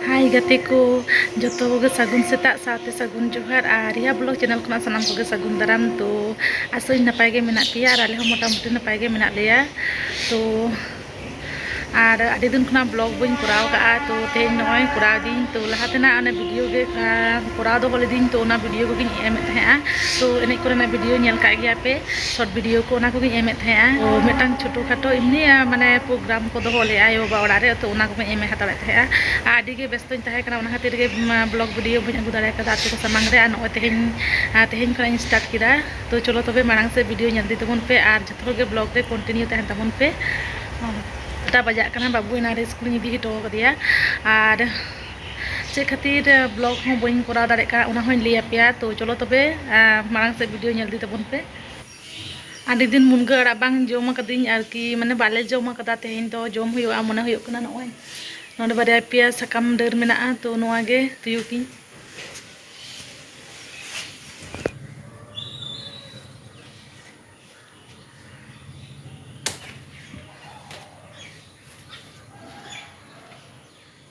ᱦᱟᱭ ᱜᱟᱛᱮ ᱠᱚ ᱡᱚᱛᱚ ᱠᱚᱜᱮ ᱥᱟᱹᱜᱩᱱ ᱥᱮᱛᱟᱜ ᱥᱟᱶᱛᱮ ᱥᱟᱹᱜᱩᱱ ᱡᱚᱦᱟᱨ ᱟᱨ ᱨᱤᱭᱟ ᱵᱞᱚᱜ ᱪᱮᱱᱮᱞ ᱠᱷᱚᱱᱟᱜ ᱥᱟᱱᱟᱢ ᱠᱚᱜᱮ ᱥᱟᱹᱜᱩᱱ ᱫᱟᱨᱟᱢ ᱛᱚ ᱟᱥᱚᱧ ᱱᱟᱯᱟᱭ ᱜᱮ ᱢᱮᱱᱟᱜ ᱯᱮᱭᱟ ᱟᱨ ᱟᱞᱮ ᱦᱚᱸ ᱢᱚᱴᱟᱢᱩᱴᱤ ᱱᱟᱯᱟᱭ ᱜᱮ ᱢᱮᱱᱟᱜ ᱞᱮᱭᱟ ᱛᱚ ᱟᱨ ᱟᱹᱰᱤ ᱫᱤᱱ ᱠᱷᱚᱱᱟᱜ ᱵᱞᱚᱜ ᱵᱟᱹᱧ ᱠᱚᱨᱟᱣ ᱠᱟᱜᱼᱟ ᱛᱚ ᱛᱮᱦᱮᱧ ᱱᱚᱜᱼᱚᱭ ᱠᱚᱨᱟᱣ ᱫᱤᱧ ᱛᱚ ᱞᱟᱦᱟ ᱛᱮᱱᱟᱜ ᱚᱱᱮ ᱵᱷᱤᱰᱤᱭᱳ ᱜᱮ ᱠᱚᱨᱟᱣ ᱫᱚᱦᱚ ᱞᱤᱫᱟᱹᱧ ᱛᱚ ᱚᱱᱟ ᱵᱷᱤᱰᱤᱭᱳ ᱠᱚᱜᱮᱧ ᱮᱢᱮᱫ ᱛᱟᱦᱮᱸᱜᱼᱟ ᱛᱚ ᱮᱱᱮᱡ ᱠᱚᱨᱮᱱᱟᱜ ᱵᱷᱤᱰᱤᱭᱳ ᱧᱮᱞ ᱠᱟᱜ ᱜᱮᱭᱟ ᱯᱮ ᱥᱚᱨᱴ ᱵᱷᱤᱰᱭᱳ ᱠᱚ ᱚᱱᱟ ᱠᱚᱜᱮᱧ ᱮᱢᱮᱫ ᱛᱟᱦᱮᱸᱜᱼᱟ ᱛᱚ ᱢᱤᱫᱴᱟᱝ ᱪᱷᱳᱴᱳ ᱠᱷᱟᱴᱳ ᱮᱢᱱᱤ ᱢᱟᱱᱮ ᱯᱨᱳᱜᱨᱟᱢ ᱠᱚ ᱫᱚᱦᱚ ᱞᱮᱫᱼᱟ ᱟᱭᱳ ᱵᱟᱵᱟ ᱚᱲᱟᱜ ᱨᱮ ᱛᱚ ᱚᱱᱟ ᱠᱚᱜᱮᱧ ᱮᱢ ᱦᱟᱛᱟᱲᱮᱫ ᱛᱟᱦᱮᱸᱜᱼᱟ ᱟᱨ ᱟᱹᱰᱤ ᱜᱮ ᱵᱮᱥᱛᱚᱧ ᱛᱟᱦᱮᱸ ᱠᱟᱱᱟ ᱚᱱᱟ ᱠᱷᱟᱹᱛᱤᱨ ᱜᱮ ᱵᱞᱚᱜᱽ ᱵᱷᱤᱰᱭᱳ ᱵᱟᱹᱧ ᱟᱹᱜᱩ ᱫᱟᱲᱮ ᱠᱟᱫᱟ ᱟᱯᱮ ᱠᱚ ᱥᱟᱢᱟᱝ ᱨᱮ ᱟᱨ ᱱᱚᱜᱼᱚᱭ ᱛᱮᱦᱮᱧ ᱛᱮᱦᱮᱧ ᱠᱷᱚᱱᱟᱜ ᱤᱧ ᱥᱴᱟᱨᱴ ᱠᱮᱫᱟ ᱛᱚ ᱪᱚᱞᱚ ᱛᱚᱵᱮ ᱢᱟᱲᱟᱝ ᱥᱮᱫ ᱵᱷᱤᱰᱭᱳ ᱧᱮᱞ ᱤᱫᱤ ᱛᱟᱵᱚᱱ ᱯᱮ ᱟᱨ ᱡᱚᱛᱚ ᱦᱚᱲ ᱜᱮ ᱵᱞᱚᱜᱽ ᱨᱮ ᱠᱚᱱᱴᱤᱱᱤᱭᱩ ᱛᱟᱦᱮᱱ ᱛᱟᱵᱚᱱ ᱯᱮ ᱟᱴᱴᱟ ᱵᱟᱡᱟᱜ ᱠᱟᱱᱟ ᱵᱟᱹᱵᱩ ᱮᱱᱟᱱ ᱨᱮ ᱥᱠᱩᱞᱤᱧ ᱤᱫᱤ ᱦᱚᱴᱚ ᱠᱟᱫᱮᱭᱟ ᱟᱨ ᱪᱮᱫ ᱠᱷᱟᱹᱛᱤᱨ ᱵᱞᱚᱜ ᱦᱚᱸ ᱵᱟᱹᱧ ᱠᱚᱨᱟᱣ ᱫᱟᱲᱮᱭᱟᱜ ᱠᱟᱱᱟ ᱚᱱᱟ ᱦᱚᱸᱧ ᱞᱟᱹᱭ ᱟᱯᱮᱭᱟ ᱛᱚ ᱪᱚᱞᱚ ᱛᱚᱵᱮ ᱢᱟᱲᱟᱝ ᱥᱮᱫ ᱵᱷᱤᱰᱤᱭᱳ ᱧᱮᱞ ᱤᱫᱤ ᱛᱟᱵᱚᱱ ᱯᱮ ᱟᱹᱰᱤ ᱫᱤᱱ ᱢᱩᱱᱜᱟᱹ ᱟᱲᱟᱜ ᱵᱟᱝ ᱡᱚᱢ ᱟᱠᱟᱫᱤᱧ ᱟᱨᱠᱤ ᱢᱟᱱᱮ ᱵᱟᱞᱮ ᱡᱚᱢ ᱟᱠᱟᱫᱟ ᱛᱮᱦᱮᱧ ᱫᱚ ᱡᱚᱢ ᱦᱩᱭᱩᱜᱼᱟ ᱢᱚᱱᱮ ᱦᱩᱭᱩᱜ ᱠᱟᱱᱟ ᱱᱚᱜᱼᱚᱭ ᱱᱚᱰᱮ ᱵᱟᱨᱭᱟ ᱯᱮᱭᱟ ᱥᱟᱠᱟᱢ ᱰᱟᱹᱨ ᱢᱮᱱᱟᱜᱼᱟ ᱛᱚ ᱱᱚᱣᱟ ᱜᱮ ᱛᱩᱭᱩ ᱠᱤᱱ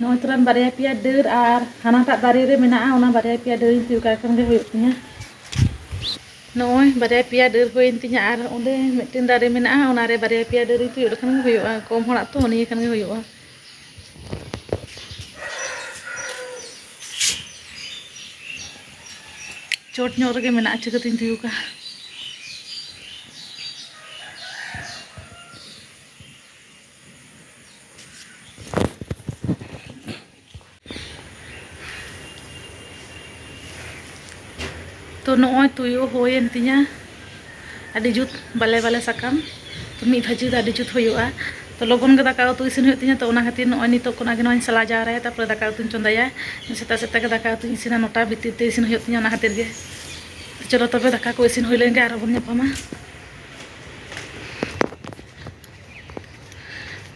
ᱱᱚᱜᱼᱚᱭ ᱛᱚᱨᱟᱱ ᱵᱟᱨᱭᱟ ᱯᱮᱭᱟ ᱰᱟᱹᱨ ᱟᱨ ᱦᱟᱱᱟᱴᱟᱜ ᱫᱟᱨᱮ ᱨᱮ ᱢᱮᱱᱟᱜᱼᱟ ᱚᱱᱟ ᱵᱟᱨᱭᱟ ᱯᱮᱭᱟ ᱰᱟᱹᱨᱤᱧ ᱛᱤᱭᱳᱜ ᱠᱟᱜ ᱠᱷᱟᱱ ᱜᱮ ᱦᱩᱭᱩᱜ ᱛᱤᱧᱟ ᱱᱚᱜᱼᱚᱭ ᱵᱟᱨᱭᱟ ᱯᱮᱭᱟ ᱰᱟᱹᱨ ᱦᱩᱭᱮᱱ ᱛᱤᱧᱟ ᱟᱨ ᱚᱸᱰᱮ ᱢᱤᱫᱴᱮᱱ ᱫᱟᱨᱮ ᱢᱮᱱᱟᱜᱼᱟ ᱚᱱᱟᱨᱮ ᱵᱟᱨᱭᱟ ᱯᱮᱭᱟ ᱰᱟᱹᱨᱤᱧ ᱛᱤᱭᱳᱜ ᱞᱮᱠᱷᱟᱱ ᱜᱮ ᱦᱩᱭᱩᱜᱼᱟ ᱠᱚᱢ ᱦᱚᱲᱟᱜ ᱛᱚ ᱱᱤᱭᱟᱹ ᱠᱷᱟᱱ ᱜᱮ ᱦᱩᱭᱩᱜᱼᱟ ᱪᱚᱴ ᱧᱚᱜ ᱨᱮᱜᱮ ᱢᱮᱱᱟᱜᱼᱟ ᱪᱤᱠᱟᱹᱛᱤᱧ ᱛᱤᱭᱩᱜᱟ ᱛᱚ ᱱᱚᱜᱼᱚᱭ ᱛᱩᱭᱩ ᱦᱩᱭᱮᱱ ᱛᱤᱧᱟ ᱟᱹᱰᱤ ᱡᱩᱛ ᱵᱟᱞᱮ ᱵᱟᱞᱮ ᱥᱟᱠᱟᱢ ᱛᱚ ᱢᱤᱫ ᱵᱷᱟᱹᱡᱤ ᱫᱚ ᱟᱹᱰᱤ ᱡᱩᱛ ᱦᱩᱭᱩᱜᱼᱟ ᱛᱚ ᱞᱚᱜᱚᱱ ᱜᱮ ᱫᱟᱠᱟ ᱩᱛᱩ ᱤᱥᱤᱱ ᱦᱩᱭᱩᱜ ᱛᱤᱧᱟ ᱛᱚ ᱚᱱᱟ ᱠᱷᱟᱹᱛᱤᱨ ᱱᱚᱜᱼᱚᱭ ᱱᱤᱛᱚᱜ ᱠᱷᱚᱱᱟᱜ ᱜᱮ ᱱᱚᱣᱟᱧ ᱥᱟᱞᱟ ᱡᱟᱣᱨᱟᱭᱟ ᱛᱟᱨᱯᱚᱨᱮ ᱫᱟᱠᱟ ᱩᱛᱩᱧ ᱪᱚᱸᱫᱟᱭᱟ ᱥᱮᱛᱟᱜ ᱥᱮᱛᱟᱜ ᱜᱮ ᱫᱟᱠᱟ ᱩᱛᱩᱧ ᱤᱥᱤᱱᱟ ᱱᱚᱴᱟ ᱵᱷᱤᱛᱤᱨ ᱛᱮ ᱤᱥᱤᱱ ᱦᱩᱭᱩᱜ ᱛᱤᱧᱟ ᱚᱱᱟ ᱠᱷᱟᱹᱛᱤᱨ ᱜᱮ ᱪᱚᱞᱚ ᱛᱚᱵᱮ ᱫᱟᱠᱟ ᱠᱚ ᱤᱥᱤᱱ ᱦᱩᱭ ᱞᱮᱱ ᱜᱮ ᱟᱨᱦᱚᱸ ᱵᱚᱱ ᱧᱟᱯᱟᱢᱟ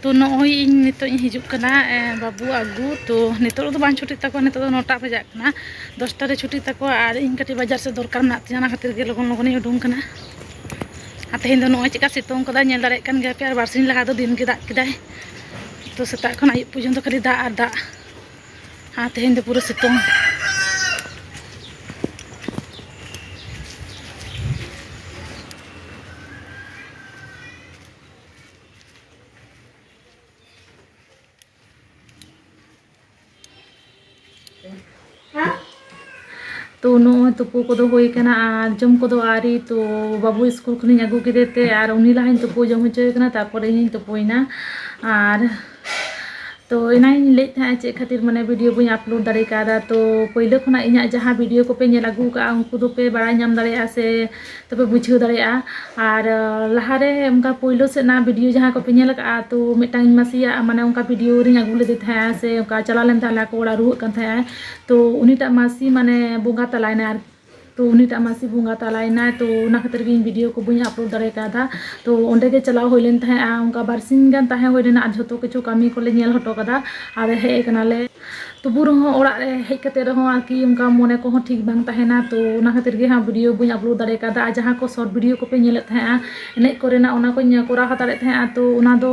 ᱛᱚ ᱱᱚᱜᱼᱚᱭ ᱤᱧ ᱱᱤᱛᱚᱜ ᱤᱧ ᱦᱤᱡᱩᱜ ᱠᱟᱱᱟ ᱵᱟᱹᱵᱩ ᱟᱹᱜᱩ ᱛᱚ ᱱᱤᱛᱚᱜ ᱫᱚ ᱵᱟᱝ ᱪᱷᱩᱴᱤᱜ ᱛᱟᱠᱚᱣᱟ ᱱᱤᱛᱚᱜ ᱫᱚ ᱱᱚᱴᱟ ᱵᱟᱡᱟᱜ ᱠᱟᱱᱟ ᱫᱚᱥᱴᱟ ᱨᱮ ᱪᱷᱩᱴᱤᱜ ᱛᱟᱠᱚᱣᱟ ᱟᱨ ᱤᱧ ᱠᱟᱹᱴᱤᱡ ᱵᱟᱡᱟᱨ ᱥᱮᱫ ᱫᱚᱨᱠᱟᱨ ᱢᱮᱱᱟᱜ ᱛᱤᱧᱟ ᱚᱱᱟ ᱠᱷᱟᱹᱛᱤᱨ ᱜᱮ ᱞᱚᱜᱚᱱ ᱞᱚᱜᱚᱱᱤᱧ ᱩᱰᱩᱝ ᱠᱟᱱᱟ ᱟᱨ ᱛᱮᱦᱮᱧ ᱫᱚ ᱱᱚᱜᱼᱚᱭ ᱪᱮᱫᱠᱟ ᱥᱤᱛᱩᱝ ᱠᱟᱫᱟᱭ ᱧᱮᱞ ᱫᱟᱲᱮᱭᱟᱜ ᱠᱟᱱ ᱜᱮᱭᱟᱯᱮ ᱟᱨ ᱵᱟᱨᱥᱤᱧ ᱞᱟᱦᱟ ᱫᱚ ᱫᱤᱱᱜᱮ ᱫᱟᱜ ᱠᱮᱫᱟᱭ ᱛᱚ ᱥᱮᱛᱟᱜ ᱠᱷᱚᱱ ᱟᱹᱭᱩᱵ ᱯᱚᱨᱡᱚᱱᱛᱚ ᱠᱷᱟᱹᱞᱤ ᱫᱟᱜ ᱟᱨ ᱫᱟᱜ ᱟᱨ ᱛᱮᱦᱮᱧ ᱫᱚ ᱯᱩᱨᱟᱹ ᱥᱤᱛᱩᱝ ᱛᱚ ᱱᱚᱜᱼᱚᱭ ᱛᱩᱯᱩ ᱠᱚᱫᱚ ᱦᱩᱭ ᱠᱟᱱᱟ ᱟᱨ ᱡᱚᱢ ᱠᱚᱫᱚ ᱟᱹᱣᱨᱤ ᱛᱚ ᱵᱟᱹᱵᱩ ᱥᱠᱩᱞ ᱠᱷᱚᱱᱤᱧ ᱟᱹᱜᱩ ᱠᱮᱫᱮᱛᱮ ᱟᱨ ᱩᱱᱤ ᱞᱟᱦᱟᱧ ᱛᱩᱯᱩ ᱡᱚᱢ ᱦᱚᱪᱚᱭᱮ ᱠᱟᱱᱟ ᱛᱟᱨᱯᱚᱨᱮ ᱤᱧᱤᱧ ᱛᱩᱯᱩᱭᱮᱱᱟ ᱟᱨ ᱛᱚ ᱮᱱᱟᱝᱤᱧ ᱞᱟᱹᱭᱮᱫ ᱛᱟᱦᱮᱸᱫ ᱪᱮᱫ ᱠᱷᱟᱹᱛᱤᱨ ᱢᱟᱱᱮ ᱵᱷᱤᱰᱤᱭᱳ ᱵᱟᱹᱧ ᱟᱯᱞᱳᱰ ᱫᱟᱲᱮ ᱠᱟᱣᱫᱟ ᱛᱚ ᱯᱳᱭᱞᱳ ᱠᱷᱚᱱᱟᱜ ᱤᱧᱟᱹᱜ ᱡᱟᱦᱟᱸ ᱵᱷᱤᱰᱤᱭᱳ ᱠᱚᱯᱮ ᱧᱮᱞ ᱟᱹᱜᱩ ᱠᱟᱜᱼᱟ ᱩᱱᱠᱩ ᱫᱚᱯᱮ ᱵᱟᱲᱟᱭ ᱧᱟᱢ ᱫᱟᱲᱮᱭᱟᱜᱼᱟ ᱥᱮ ᱛᱚᱯᱮ ᱵᱩᱡᱷᱟᱹᱣ ᱫᱟᱲᱮᱭᱟᱜᱼᱟ ᱟᱨ ᱞᱟᱦᱟᱨᱮ ᱚᱱᱠᱟ ᱯᱳᱭᱞᱳ ᱥᱮᱫ ᱨᱮᱱᱟᱜ ᱵᱷᱤᱰᱤᱭᱳ ᱡᱟᱦᱟᱸ ᱠᱚᱯᱮ ᱧᱮᱞ ᱠᱟᱜᱼᱟ ᱛᱚ ᱢᱤᱫᱴᱟᱝ ᱤᱧ ᱢᱟᱹᱥᱤᱭᱟᱜ ᱢᱟᱱᱮ ᱚᱱᱠᱟ ᱵᱷᱤᱰᱤᱭᱳ ᱨᱤᱧ ᱟᱹᱜᱩ ᱞᱮᱫᱮ ᱛᱟᱦᱮᱸᱜᱼᱟ ᱥᱮ ᱚᱱᱠᱟ ᱪᱟᱞᱟᱣ ᱞᱮᱱ ᱛᱟᱦᱮᱸᱜ ᱞᱮ ᱟᱠᱚ ᱚᱲᱟᱜ ᱨᱩᱣᱟᱹᱜ ᱠᱟᱱ ᱛᱟᱦᱮᱸᱜ ᱟᱭ ᱛᱚ ᱩᱱᱤᱴᱟᱜ ᱢᱟᱹᱥᱤ ᱢᱟᱱᱮ ᱵᱚᱸᱜᱟ ᱛᱟᱞᱟᱭᱮᱱᱟᱭ ᱟᱨᱠᱤ ᱛᱚ ᱩᱱᱤᱴᱟᱜ ᱢᱟᱹᱥᱤ ᱵᱚᱸᱜᱟ ᱛᱟᱞᱟᱭᱮᱱᱟᱭ ᱛᱚ ᱚᱱᱟ ᱠᱷᱟᱹᱛᱤᱨ ᱜᱮ ᱤᱧ ᱵᱷᱤᱰᱤᱭᱳ ᱠᱚ ᱵᱟᱹᱧ ᱟᱯᱞᱳᱰ ᱫᱟᱲᱮ ᱠᱟᱣᱫᱟ ᱛᱚ ᱚᱸᱰᱮ ᱜᱮ ᱪᱟᱞᱟᱣ ᱦᱩᱭ ᱞᱮᱱ ᱛᱟᱦᱮᱸᱫᱼᱟ ᱚᱱᱠᱟ ᱵᱟᱨ ᱥᱤᱧ ᱜᱟᱱ ᱛᱟᱦᱮᱸ ᱦᱩᱭ ᱞᱮᱱᱟ ᱟᱨ ᱡᱷᱚᱛᱚ ᱠᱤᱪᱷᱩ ᱠᱟᱹᱢᱤ ᱠᱚᱞᱮ ᱧᱮᱞ ᱦᱚᱴᱚ ᱠᱟᱫᱟ ᱟᱨ ᱦᱮᱡ ᱟᱠᱟᱱᱟᱞᱮ ᱛᱚᱵᱩ ᱨᱮᱦᱚᱸ ᱚᱲᱟᱜ ᱨᱮ ᱦᱮᱡ ᱠᱟᱛᱮ ᱨᱮᱦᱚᱸ ᱟᱨᱠᱤ ᱚᱱᱠᱟ ᱢᱚᱱᱮ ᱠᱚᱦᱚᱸ ᱴᱷᱤᱠ ᱵᱟᱝ ᱛᱟᱦᱮᱱᱟ ᱛᱚ ᱚᱱᱟ ᱠᱷᱟᱹᱛᱤᱨ ᱜᱮ ᱦᱟᱸᱜ ᱵᱷᱤᱰᱤᱭᱳ ᱵᱟᱹᱧ ᱟᱯᱞᱳᱰ ᱫᱟᱲᱮ ᱠᱟᱣᱫᱟ ᱟᱨ ᱡᱟᱦᱟᱸ ᱠᱚ ᱥᱚᱨᱴ ᱵᱷᱤᱰᱤᱭᱳ ᱠᱚᱯᱮ ᱧᱮᱞᱮᱫ ᱛᱟᱦᱮᱸᱫᱼᱟ ᱮᱱᱮᱡ ᱠᱚᱨᱮᱱᱟᱜ ᱚᱱᱟ ᱠᱚᱧ ᱠᱚᱨᱟᱣ ᱦᱟᱛᱟᱲᱮᱫ ᱛᱟᱦᱮᱸᱫᱼᱟ ᱛᱚ ᱚᱱᱟ ᱫᱚ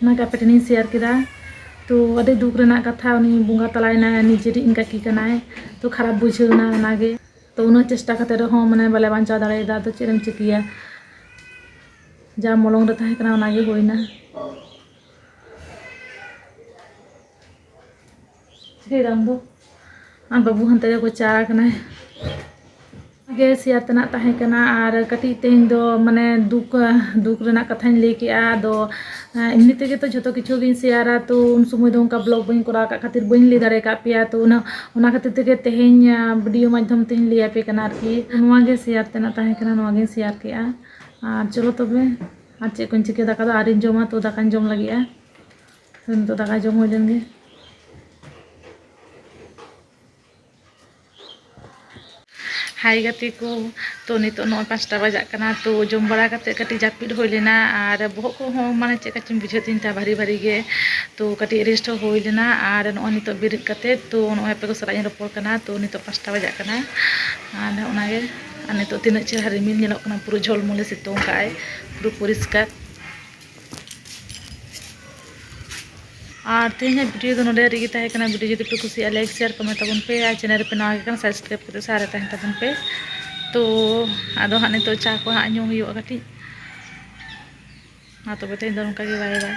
ᱚᱱᱟ ᱜᱮ ᱟᱯᱮ ᱴᱷᱮᱱ ᱤᱧ ᱥᱮᱭᱟᱨ ᱠᱮᱫᱟ ᱛᱚ ᱟᱹᱰᱤ ᱫᱩᱠ ᱨᱮᱱᱟᱜ ᱠᱟᱛᱷᱟ ᱩᱱᱤ ᱵᱚᱸᱜᱟ ᱛᱟᱞᱟᱭᱮᱱᱟᱭ ᱱᱤᱡᱮᱨᱤᱡ ᱠᱟᱹᱠᱤ ᱠᱟᱱᱟᱭ ᱛᱚ ᱠᱷᱟᱨᱟᱯ ᱵᱩᱡᱷᱟᱹᱣ ᱮᱱᱟ ᱚᱱᱟ ᱜᱮ ᱛᱚ ᱩᱱᱟᱹᱜ ᱪᱮᱥᱴᱟ ᱠᱟᱛᱮ ᱨᱮᱦᱚᱸ ᱢᱟᱱᱮ ᱵᱟᱞᱮ ᱵᱟᱧᱪᱟᱣ ᱫᱟᱲᱮᱭᱟᱫᱟ ᱟᱫᱚ ᱪᱮᱫ ᱮᱢ ᱪᱤᱠᱟᱹᱭᱟ ᱡᱟ ᱢᱚᱞᱚᱝ ᱨᱮ ᱛᱟᱦᱮᱸ ᱠᱟᱱᱟ ᱚᱱᱟ ᱜᱮ ᱦᱩᱭᱮᱱᱟ ᱥᱨᱤᱨᱟᱢ ᱫᱚ ᱟᱨ ᱵᱟᱹᱵᱩ ᱦᱟᱱᱛᱮ ᱨᱮ ᱜᱚᱪᱟ ᱟᱠᱟᱱᱟᱭ ᱜᱮ ᱥᱮᱭᱟᱨ ᱛᱮᱱᱟᱜ ᱛᱟᱦᱮᱸ ᱠᱟᱱᱟ ᱟᱨ ᱠᱟᱹᱴᱤᱡ ᱛᱮᱦᱮᱧ ᱫᱚ ᱢᱟᱱᱮ ᱫᱩᱠ ᱫᱩᱠ ᱨᱮᱱᱟᱜ ᱠᱟᱛᱷᱟᱧ ᱞᱟᱹᱭ ᱠᱮᱫᱼᱟ ᱟᱫᱚ ᱮᱢᱱᱤ ᱛᱮᱜᱮ ᱛᱚ ᱡᱷᱚᱛᱚ ᱠᱤᱪᱷᱩ ᱜᱤᱧ ᱥᱮᱭᱟᱨᱟ ᱛᱚ ᱩᱱ ᱥᱚᱢᱚᱭ ᱫᱚ ᱚᱱᱠᱟ ᱵᱞᱚᱜᱽ ᱵᱟᱹᱧ ᱠᱚᱨᱟᱣ ᱟᱠᱟᱫ ᱠᱷᱟᱹᱛᱤᱨ ᱵᱟᱹᱧ ᱞᱟᱹᱭ ᱫᱟᱲᱮ ᱟᱠᱟᱫ ᱯᱮᱭᱟ ᱛᱚ ᱩᱱᱟᱹᱜ ᱚᱱᱟ ᱠᱷᱟᱹᱛᱤᱨ ᱛᱮᱜᱮ ᱛᱮᱦᱮᱧ ᱵᱷᱤᱰᱤᱭᱳ ᱢᱟᱫᱽᱫᱷᱚᱢ ᱛᱤᱧ ᱞᱟᱹᱭ ᱟᱯᱮ ᱠᱟᱱᱟ ᱟᱨᱠᱤ ᱱᱚᱣᱟ ᱜᱮ ᱥᱮᱭᱟᱨ ᱛᱮᱱᱟᱜ ᱛᱟᱦᱮᱸ ᱠᱟᱱᱟ ᱱᱚᱣᱟ ᱜᱤᱧ ᱥᱮᱭᱟᱨ ᱠᱮᱫᱼᱟ ᱟᱨ ᱪᱚᱞᱚ ᱛᱚᱵᱮ ᱟᱨ ᱪᱮᱫ ᱠᱚᱧ ᱪᱤᱠᱟᱹᱭᱟ ᱫᱟᱠᱟ ᱫᱚ ᱟᱹᱣᱨᱤᱧ ᱡᱚᱢᱟ ᱛᱚ ᱫᱟᱠᱟᱧ ᱡᱚᱢ ᱞᱟᱹᱜᱤᱫᱼᱟ ᱱᱤᱛᱚᱜ ᱫᱟᱠᱟ ᱡᱚᱢ ᱦᱩᱭ ᱞᱮᱱ ᱜᱮ ᱦᱟᱭ ᱜᱟᱛᱮ ᱠᱚ ᱛᱚ ᱱᱤᱛᱚᱜ ᱱᱚᱜᱼᱚᱭ ᱯᱟᱸᱪᱴᱟ ᱵᱟᱡᱟᱜ ᱠᱟᱱᱟ ᱛᱚ ᱡᱚᱢ ᱵᱟᱲᱟ ᱠᱟᱛᱮ ᱠᱟᱹᱴᱤᱡ ᱡᱟᱹᱯᱤᱫ ᱦᱩᱭ ᱞᱮᱱᱟ ᱟᱨ ᱵᱚᱦᱚᱜ ᱠᱚᱦᱚᱸ ᱢᱟᱱᱮ ᱪᱮᱫ ᱠᱟᱪᱚᱧ ᱵᱩᱡᱷᱟᱹᱣ ᱛᱤᱧ ᱛᱟᱦᱮᱸ ᱵᱷᱟᱨᱤ ᱵᱷᱟᱨᱤ ᱜᱮ ᱛᱚ ᱠᱟᱹᱴᱤᱡ ᱨᱮᱥᱴ ᱦᱚᱸ ᱦᱩᱭ ᱞᱮᱱᱟ ᱟᱨ ᱱᱚᱜᱼᱚᱭ ᱱᱤᱛᱚᱜ ᱵᱮᱨᱮᱫ ᱠᱟᱛᱮ ᱛᱚ ᱱᱚᱜᱼᱚᱭ ᱟᱯᱮ ᱠᱚ ᱥᱟᱞᱟᱜ ᱤᱧ ᱨᱚᱯᱚᱲ ᱠᱟᱱᱟ ᱛᱚ ᱱᱤᱛᱚᱜ ᱯᱟᱸᱪᱴᱟ ᱵᱟᱡᱟᱜ ᱠᱟᱱᱟ ᱟᱨ ᱚᱱᱟᱜᱮ ᱟᱨ ᱱᱤᱛᱚᱜ ᱛᱤᱱᱟᱹᱜ ᱪᱮᱦᱨᱟ ᱨᱤᱢᱤᱞ ᱧᱮᱞᱚᱜ ᱠᱟᱱᱟ ᱯᱩᱨᱟᱹ ᱡᱷᱚᱞᱢᱚᱞᱮ ᱥᱤᱛᱩᱝ ᱠᱟᱜᱼᱟᱭ ᱯᱩᱨᱟᱹ ᱯᱚᱨᱤᱥᱠᱟᱨ ᱟᱨ ᱛᱮᱦᱮᱧᱟᱜ ᱵᱷᱤᱰᱤᱭᱳ ᱫᱚ ᱱᱚᱰᱮ ᱨᱮᱜᱮ ᱛᱟᱦᱮᱸ ᱠᱟᱱᱟ ᱵᱷᱤᱰᱤᱭᱳ ᱡᱩᱫᱤ ᱯᱮ ᱠᱩᱥᱤᱭᱟᱜᱼᱟ ᱞᱟᱭᱤᱠ ᱥᱮᱭᱟᱨ ᱠᱚᱢᱮᱱᱴ ᱛᱟᱵᱚᱱ ᱯᱮ ᱟᱨ ᱪᱮᱱᱮᱞ ᱨᱮᱯᱮ ᱱᱟᱣᱟ ᱠᱟᱱᱟ ᱥᱟᱵᱥᱠᱨᱟᱭᱤᱵ ᱠᱟᱛᱮ ᱥᱟᱨᱮ ᱛᱟᱦᱮᱱ ᱛᱟᱵᱚᱱ ᱯᱮ ᱛᱚ ᱟᱫᱚ ᱦᱟᱸᱜ ᱱᱤᱛᱚᱜ ᱪᱟ ᱠᱚ ᱦᱟᱸᱜ ᱧᱩ ᱦᱩᱭᱩᱜᱼᱟ ᱠᱟᱹᱴᱤᱡ ᱢᱟ ᱛᱚᱵᱮ ᱛᱮᱦᱮᱧ ᱫᱚ ᱱᱚᱝᱠᱟ ᱜᱮ ᱵᱟᱭ ᱵᱟᱭ